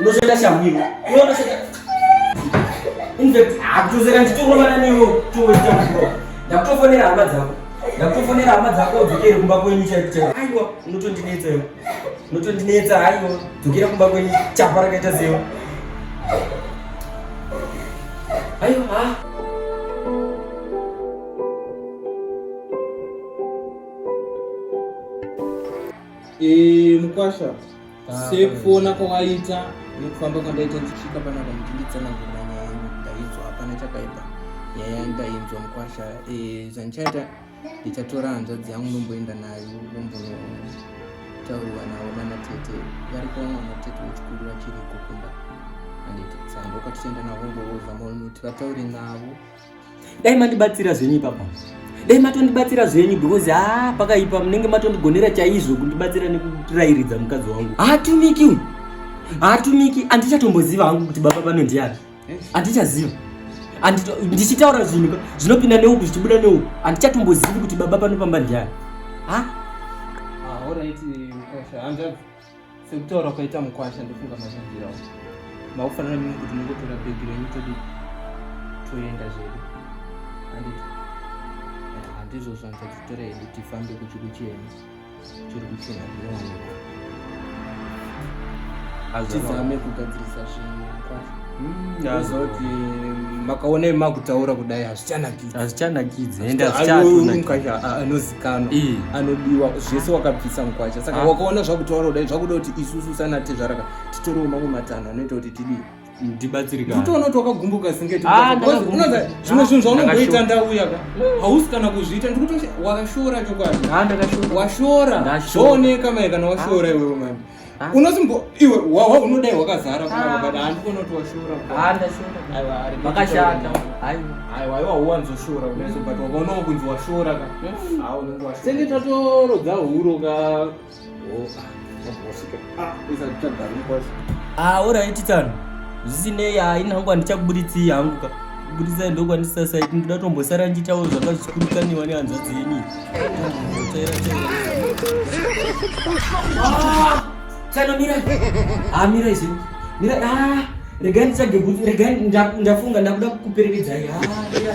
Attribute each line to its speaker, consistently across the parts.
Speaker 1: unozoita shamwino akutozoita ndichitorovana newe toita muro ndakutofonera hama dzako ndakutofonera hama dzako udzokere kumba kwenyu chaikuchaiwa aiwa unotondinetsa iwe unotondinetsa haiwa dzokera kumba kwenyu chapa rakaita sewa Ayo
Speaker 2: ha. Eh, mukwasha ah, sekuona kwawaita nekufamba kwandaita ndichisvika panapa muchinditsanangurira nyaya yangu ndainzwa hapana chakaipa nyaya yangu ndainzwa mukwasha eh, zvandichaita ndichatora hanzvadzi yangu ndomboenda nayo ndombotauriwa navo nana tete variko vamwe vana tete vechikuru vachiri kukunda anditi sando ukatichaenda navo mbooza maonoti vataure navo dai
Speaker 1: mandibatsira zvenyu ipapa dai matondibatsira zvenyu because ha ah, pakaipa munenge matondigonera chaizvo kundibatsira nekurairidza mukadzi wangu haatumiki uyu haatumiki andichatomboziva hangu kuti baba vanondiyapi handichaziva ndichitaura zvinhu zvinopinda neuku zvichibuda neuku handichatombozivi kuti baba panopamba ndiani
Speaker 2: ah, sekutaura kwaita mukwasha ndofunga mazvabvirawo makufanana mimi kuti mungotora bhegi renyu todi toenda zvedu handiti eh, handizvo zvanza titora hedu tifambe kuchikuchiyeni tizame kugadzirisa zvinhu hmm, azoti makaona makutaura kudai hazvichanakidzi
Speaker 1: hazvichanakidzi
Speaker 2: ende anozikanwa anodiwa zvese wakabvisa mukwacha saka ah. wakaona zvakutaura kudai zvakuda kuti isusu sanatezvaraka titorewo mamwe matanho anoita kuti tidii ndibatsirika
Speaker 1: utoona kuti wakagumbuka
Speaker 2: singeti ah, unoza zvimwe zvinhu zvaunongoita ndauya ka hausi kana kuzviita ndikuto wakashora chokwadi ah, washora zvooneka mai kana washora ah. iwewe mani unosimbo iwe wawa unodai wakazara kunakabada handikona kuti washora
Speaker 1: vakashata aiwa aiwa
Speaker 2: uwanzoshora unaizobata wakaonawo kunzi washora ka hmm. senge tatorodza huro ka auraititan
Speaker 1: ah, zvisinei haina hangu handichakuburitsi hangu ka kuburitsa ndokwandisasait ndoda tombosara ndichitawo zvanga zvichikurikaniwa nehanzvadzi yenyu tsano mira a mira izvi mira a ah, regai nditsage regai ndafunga ndakuda kukuperekedzai a ah, mira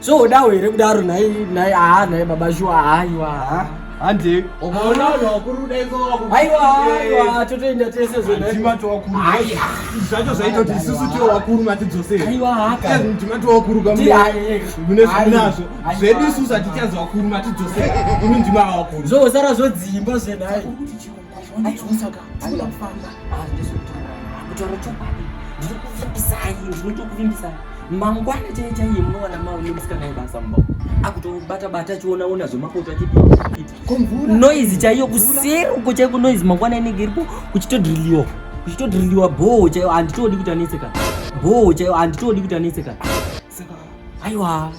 Speaker 1: so udawo here kudaro nhai nhai haa nhai baba shuwa haiwa haa hande
Speaker 2: ukaona vanhu vakuru daiaiwa
Speaker 1: totoenda tese zvonaitimatovakuruzvacho
Speaker 2: zvaitoti isusu tio vakuru
Speaker 1: matidzoseaitimatovakurukamunezvinazvo
Speaker 2: zvedu isusu hatichazi vakuru matidzoseimindima vakuru zvosara zvodzimba
Speaker 1: zvenai mangwana chaiye chaiye munowana maune musikana yebasa mumba akutobata bata achionaona zvemapoto achinoizi chaiyo kuseri uko chaiko noizi mangwana inenge iripo kuchitodriliwa kuchitodriliwa bhoo chaiyo handitodi kuti anetseka bhoo chaiyo handitodi kuti anetseka
Speaker 2: aiwa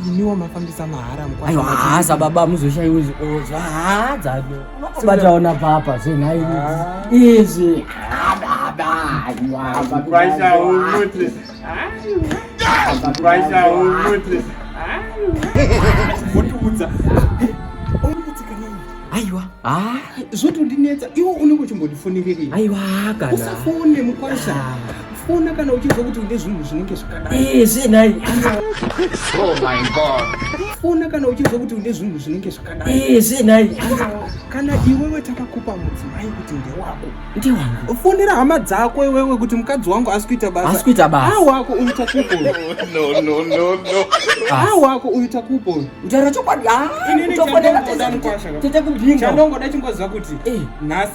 Speaker 1: iniwo
Speaker 2: mafambisa mahara aiwa haza baba
Speaker 1: muzoshaiwezi ozo haza bataona papa zvenhai ah. izvi
Speaker 2: votiudza
Speaker 1: aiwa ah. zvotondinetsa
Speaker 2: iwo unenge uchimbotifonererei aiwa kana
Speaker 1: usafone mukwasha
Speaker 2: ah. fona kana uchinzwa kuti une zvinhu zvinenge zvakadaizvinai
Speaker 3: oh fona kana uchinzwa
Speaker 2: kuti une zvinhu zvinenge zvakadaizvinai
Speaker 1: kana
Speaker 2: iwewe takakupa mudzimai kuti ndewako ndiwangu fonera
Speaker 1: hama dzako
Speaker 2: iwewe kuti mukadzi wangu asi kuita basa asi kuita basa awako uyu takupo no no no
Speaker 3: no
Speaker 2: awako uyu takupo utaura chokwadi
Speaker 1: ah, utofonera tete kubhinga chandongoda chingoziva kuti
Speaker 2: eh. nhasi